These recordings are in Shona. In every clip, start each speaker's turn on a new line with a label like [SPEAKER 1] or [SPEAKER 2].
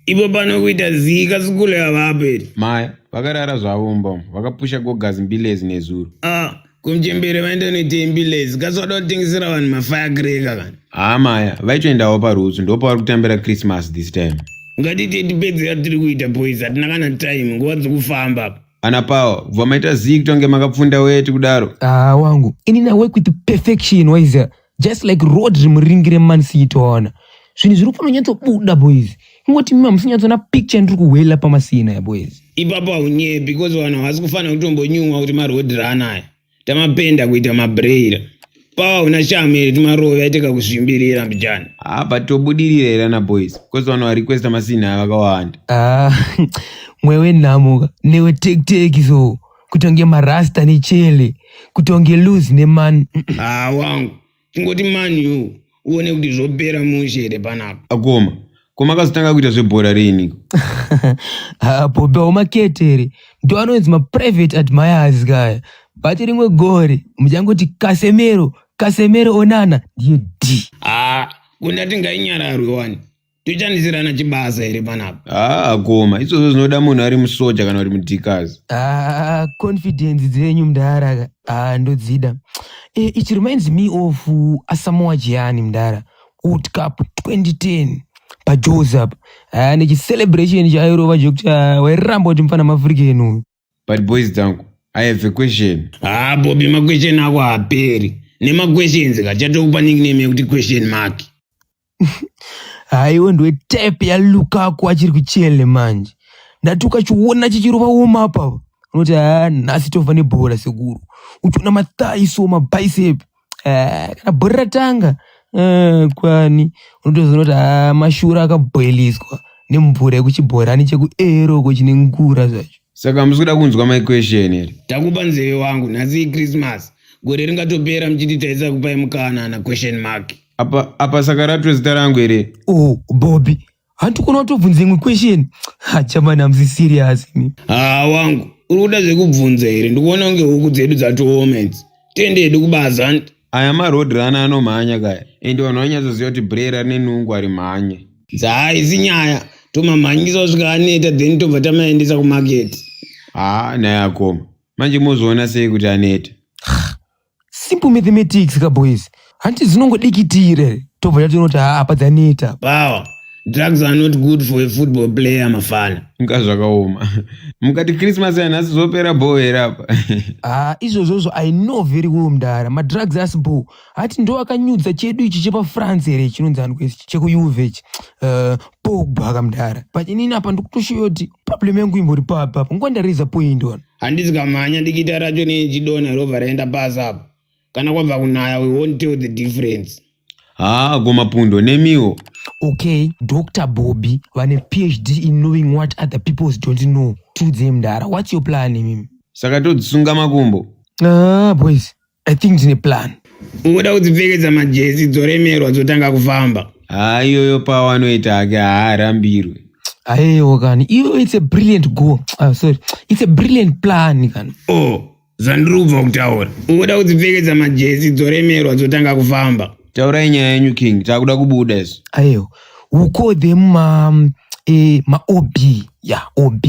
[SPEAKER 1] Ipo pano kuita zii kazukuru yavapo iri. Maya vakarara
[SPEAKER 2] zvavo mumba umu vakapusha gogazi mbilezi nezuro. Ah, kumchembere
[SPEAKER 1] vaenda noitei mbilezi kasi wada kutengesera vanhu mafaya kireka kana. Haa Maya vaitoendawo
[SPEAKER 2] parutsu ndopavari kutambira Christmas this time. Ngatite tipedzera
[SPEAKER 1] tiri kuita boys hatina kana time nguva dzokufamba apa. Ana Pawa
[SPEAKER 2] kubva maita zii kutonge makapfunda weti kudaro. Haa wangu ini na
[SPEAKER 3] work with perfection waiza just like rodri muringire man city toona zvinhu zviri kufanonyatsobuda boys ingoti mima musinyatsoona picture ndiri kuhwela pamasina ya boys ipapo haunyebi
[SPEAKER 1] because vanhu havasi kufanira kutombonyumwa kuti marodri anaya tamapenda kuita mabreira pawa una shamu here timarove aiteka kuzvimbirira mbijana apa tobudirira
[SPEAKER 2] here ana boys because vanhu varequesta masina vakawanda ah,
[SPEAKER 3] mwewe nhamuka newe tekiteki so kutonge marasta nechele kutonge luz neman haa wangu
[SPEAKER 1] tingoti man u uone kuti zvopera mushe here panapa akoma ko
[SPEAKER 2] makazotanga kuita zvebhora riiniko
[SPEAKER 3] bobe waumaketere ndo anonzi maprivate admirers kaya bati rimwe gore muchangoti kasemero kasemero onana ndiye d haa kundati
[SPEAKER 1] ngainyararwe wani Tichandisirana chibasa here panapa? Haa ah, koma, izvozvo zvinoda
[SPEAKER 2] munhu ari musoja kana uri mudhikazi. Haa, ah,
[SPEAKER 3] confidence dzenyu mdara ka. Haa, ah, ndodzida. Eh, it reminds me of uh, Asamoah Gyan mdara. World Cup 2010 paJoes apa. Haa, nechicelebration chairova chekuti wairamba kuti mfana maAfrican uyu. but boys
[SPEAKER 2] dzangu i have a question haa ah, bobi maquestion
[SPEAKER 1] ako haaperi nemaquestions ka chatokupa nickname yekuti question mark haiwe
[SPEAKER 3] ndiwe type yalukaku achiri kuchele manje ndati ukachiona chichirova woma papa unoti haa ah, nhasi tova nebhora sekuru uchiona mathai so mabicepe eh, kana bhori ratanga eh, kwani unotozoona kuti ah, mashura akabhoiliswa nemvura yekuchibhorani chekuero uko chine ngura zvacho saka hamusi kuda kunzwa
[SPEAKER 2] my question here takupa nzeve wangu
[SPEAKER 1] nhasi ichristmas gore ringatopera muchiti taisa kupai mukana na question mark apa apa saka
[SPEAKER 2] ratwe zita rangu here oh bobi
[SPEAKER 3] hanti kuno tobvunza imwe question hachamani hamusi serious mi haa ah, wangu
[SPEAKER 1] uri kuda zvekubvunza here ndikuona kunge huku dzedu dzatooma idzi tende hedu kubaza hanti aya maroad
[SPEAKER 2] rana anomhanya kaya ende vanhu vanyatsoziva kuti brera rine nungu ari mhanye dzahaisi nyaya
[SPEAKER 1] tomamhanyisa kusvika aneta then tobva tamaendesa kumaketi haa ah, naye
[SPEAKER 2] akoma manje mozoona sei kuti aneta
[SPEAKER 3] simple mathematics ka boys hanti zinongodikitire tobva tatonoti haa apa dzaneta Power.
[SPEAKER 1] Drugs are not good for a football player, Mafana. Nga zvakaoma.
[SPEAKER 2] Mukati Christmas yanhasi zvopera bho here apa? haa izvozvozvo i
[SPEAKER 3] know very well mdara madrugs asi bho hati ndo akanyudza chedu ichi chepafrance here chinonzi aniko ichi chekuuve ichi Eh, pogba ka mdara but inini apa ndikutoshoyoti problem yangu imbori papa apa nguva ndariza point one handisi kamhanya
[SPEAKER 1] dikita racho nechidonha rova raenda pasi apo kana kwabva kunaya we won't tell the difference haa
[SPEAKER 2] gomapundo nemiwo okay
[SPEAKER 3] dr bobby vane phd in knowing what other peoples don't know to them mdara whats your plan mimi saka todzisunga
[SPEAKER 2] makumbo ah boys
[SPEAKER 3] I think ndine plan. Ungoda kudzipfekedza
[SPEAKER 1] majezi dzoremerwa dzotanga kufamba. Haa iyoyo pawo
[SPEAKER 2] anoita hake haarambirwe. Ayewo
[SPEAKER 3] kani iyoyo it's a brilliant goal. Ah, sorry. It's a brilliant plan kani. Oh, zvandiri
[SPEAKER 1] kubva kutaura. Ungoda kudzipfekedza majezi dzoremerwa dzotanga kufamba. Taurai nyaya yenyu
[SPEAKER 2] king, takuda kubuda isu. Ayewo. We
[SPEAKER 3] call them um, eh, ma OB. Yeah, OB.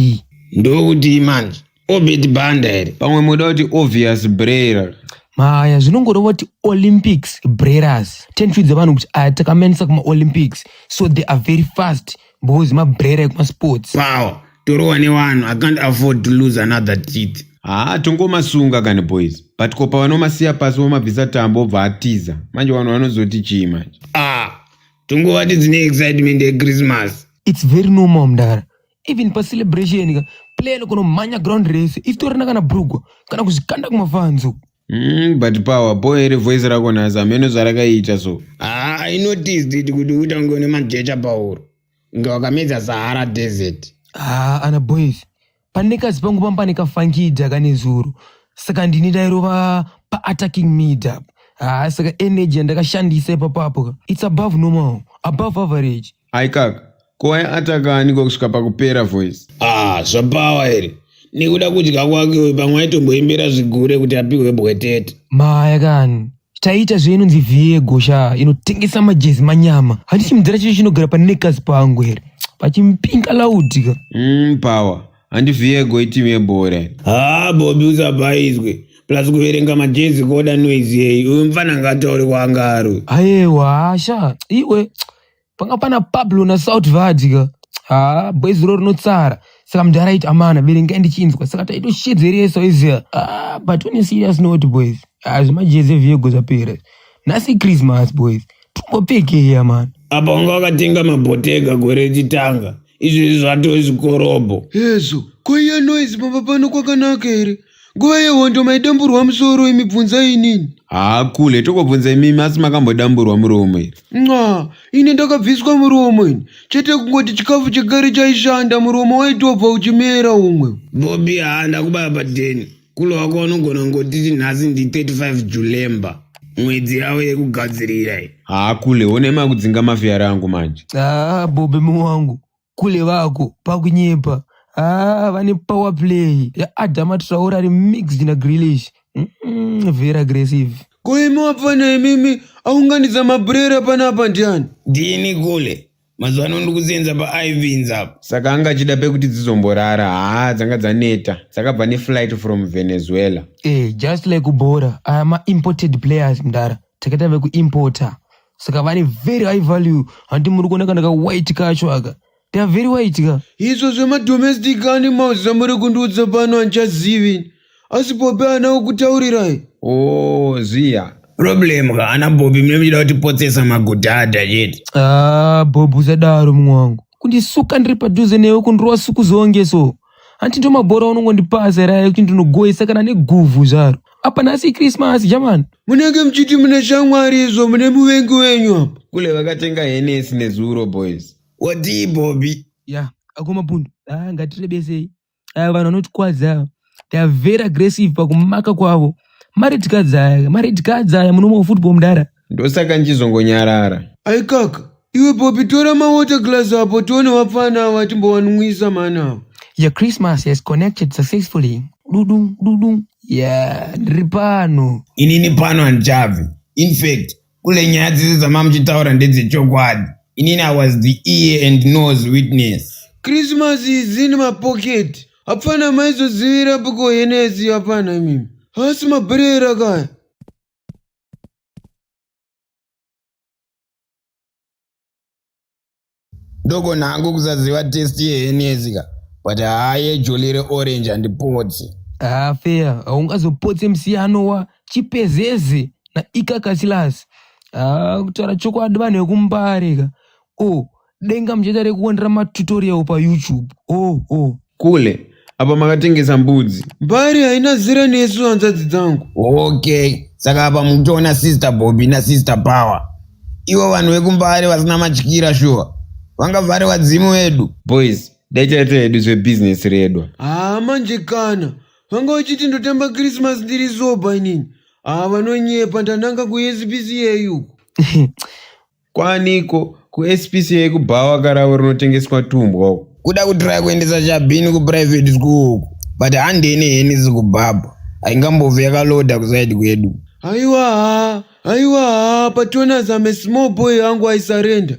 [SPEAKER 3] Ndokuti
[SPEAKER 1] manje. Orbit banda iri. Pamwe moda kuti
[SPEAKER 2] obvious brayer. Maya zvinongoreva
[SPEAKER 3] kuti Olympics brerers. Tenfidza vanhu kuti aya takamenisa kuma Olympics so they are very fast because mabrera ekuma sports. Power. Torowa
[SPEAKER 1] newanhu. I can't afford to lose another teeth. Haa tongomasunga
[SPEAKER 2] kani boys. But ko pavanomasiya pasi vomabvisa tambo obva atiza. Manje vanhu vanozoti chii manje? Ah, tongovati
[SPEAKER 1] dzine excitement yeChristmas. It's very normal
[SPEAKER 3] mdara. even pa celebration ka player lokono manya ground race if to rena kana brugwa kana kuzikanda kuma fans uko Mm, but
[SPEAKER 2] power boy iri voice rako nhasi hameno zvarakaita so ah i noticed
[SPEAKER 1] it kuti uita kunge une majecha pauro kunge wakamedza sahara desert ah ana
[SPEAKER 3] boys pane kazi pangu pamba pane kafangija kane zuro saka ndini ndairova pa attacking mid up ah saka energy yandakashandisa ipapapo ka it's above normal above average Aikaka,
[SPEAKER 2] ko waya ataka aniko kusvika pakupera voice? Ah, zvapawa
[SPEAKER 1] here? Nekuda kudya kwake uyu pamwe aitomboimbira zvigure kuti apihwe bwetete. Maya kani.
[SPEAKER 3] Taita zvainonzi vhiye gosha inotengesa majezi manyama. Handichimudzira chiri chinogara panekazi pangu here? Pachimpinga laudika. Mm, power.
[SPEAKER 2] Handi vhiye go itimu yebhora. Haa, ah, Bobi
[SPEAKER 1] usabhaizwe. Plus kuverenga majezi koda noise yeyi. Uyu mfana ngataure kwaangaru. Ayewa, hasha.
[SPEAKER 3] Iwe. panga pana pablo na south vadya ha boys ro rinotsara saka mudhara aiti amana verengai ndichinzwa saka taitoshedzeresa oiziva ah, but on a serious note boys ah, zvemajezi eviego zvapera nhasi christmas boys tumbopekeya mani apa vanga vakatenga
[SPEAKER 1] mabhotega gore richitanga izvezvi zvatove zvikorobho hezvo koiya
[SPEAKER 2] noise pamba pano kwakanaka here Nguva yehondo maidamburwa musoro imi bvunzai inini. Haa kule tokobvunza imimi asi makambodamburwa muromo here? Nxa, ini ndakabviswa muromo ini. Chete kungoti chikafu chegare chaishanda muromo waitobva uchimera umwe. Bobby haa
[SPEAKER 1] ndakubaya padeni. Kule wako wanogona kungotiti nhasi ndi 35 Julemba. Mwedzi yavo yekugadzirira iyi. Haa kule
[SPEAKER 2] one makudzinga mafiyara angu manje. Haa Bobby
[SPEAKER 3] muwangu. kule vako pakunyepa ah, vane power play yaadama traore ari mixed nagrilish mm -mm, very aggressive ko imi wapfana
[SPEAKER 2] imimi aunganidza mabrera panapa ndiani ndini kule
[SPEAKER 1] mazuva ano ndikuzenza paivins apa saka anga achida pekuti
[SPEAKER 2] dzizomborara haa dzanga dzaneta dzakabva neflight from venezuela eh, just like
[SPEAKER 3] kubhora aya ah, maimported players mdara takaita vekuimporter saka vane very high value handi muri kuona kana ka white kacho aka they are very white ka izvo zvemadomestic
[SPEAKER 2] animals zvamuri kundiudza pano handichazivi asi pope ana ukutaurirai o ziya problem
[SPEAKER 1] ka ana bobi mune muchida kutipotsesa magudhadha chete ah bob
[SPEAKER 3] usadaro mumwe wangu kundisuka ndiri padhuze newe kundirova suku zonge so hanti ndo mabhora unongondipasa here aya kuti ndinogoisa kana neguvhu zvaro apa nhasi ikrismasi jamani munenge muchiti mune
[SPEAKER 2] shamwari izvo mune muvengi wenyu apa kule vakatenga henesi nezuro boys wadii bobi
[SPEAKER 1] ya ako mapundu
[SPEAKER 3] ah, ngatirebesei aya vanhu vanotikwadza ava they are very aggressive pakumaka kwavo maredcadzi aya maredcadzi aya munomawo football mudara ndosaka
[SPEAKER 2] ndichizongonyarara ai kaka iwe popi tora mawater glass apo tione vapfana ava timbowanwisa mani ava Your Christmas
[SPEAKER 3] has connected successfully. Dudum, dudum. Yeah, ndiri pano. inini pano
[SPEAKER 1] handichabvi in fact kule nyaya dzese dzamamuchitaura ndedzechokwadi inini i was the ear and nose witness Christmas
[SPEAKER 2] is in my pocket. Hapana maizozivira piko henesi hapana imimi. Hasi mabhurera kaya.
[SPEAKER 1] ndogona hangu kusaziva test yehenezi ka but haa yejoli reorange handipotsi haa feya
[SPEAKER 3] haungazopotse musiyano wa chipezeze na ikakasilasi haa kutaura chokwadi vanhu vekumbare ka o denga muchida rekuonera matutorial payoutube oh oh kule
[SPEAKER 2] apa makatengesa mbudzi mbari haina zera nesu hanzvadzi dzangu okay
[SPEAKER 1] saka apa mukutoona sister bobi nasister power ivo vanhu vekumbare vasina matyira shuwa vanga vhare vadzimu vedu boys dai
[SPEAKER 2] chaita hedu zvebhizinesi redwa haa manje
[SPEAKER 4] kana vanga vachiti ndotamba krismas ndiri zoba inini haa vanonyepa ndananga kuspca uku Kwaaniko
[SPEAKER 2] kuSPC yekubhawa karavo rinotengeswa tumbwa uko. Kuda kutraya kuendesa
[SPEAKER 1] Chabhini kuprivate school uko but handei neheni zikubhabha haingambove yakaloda kuside kwedu. Haiwa
[SPEAKER 4] haa, haiwa haa, but when
[SPEAKER 1] as I'm
[SPEAKER 4] a small boy hangu I surrender.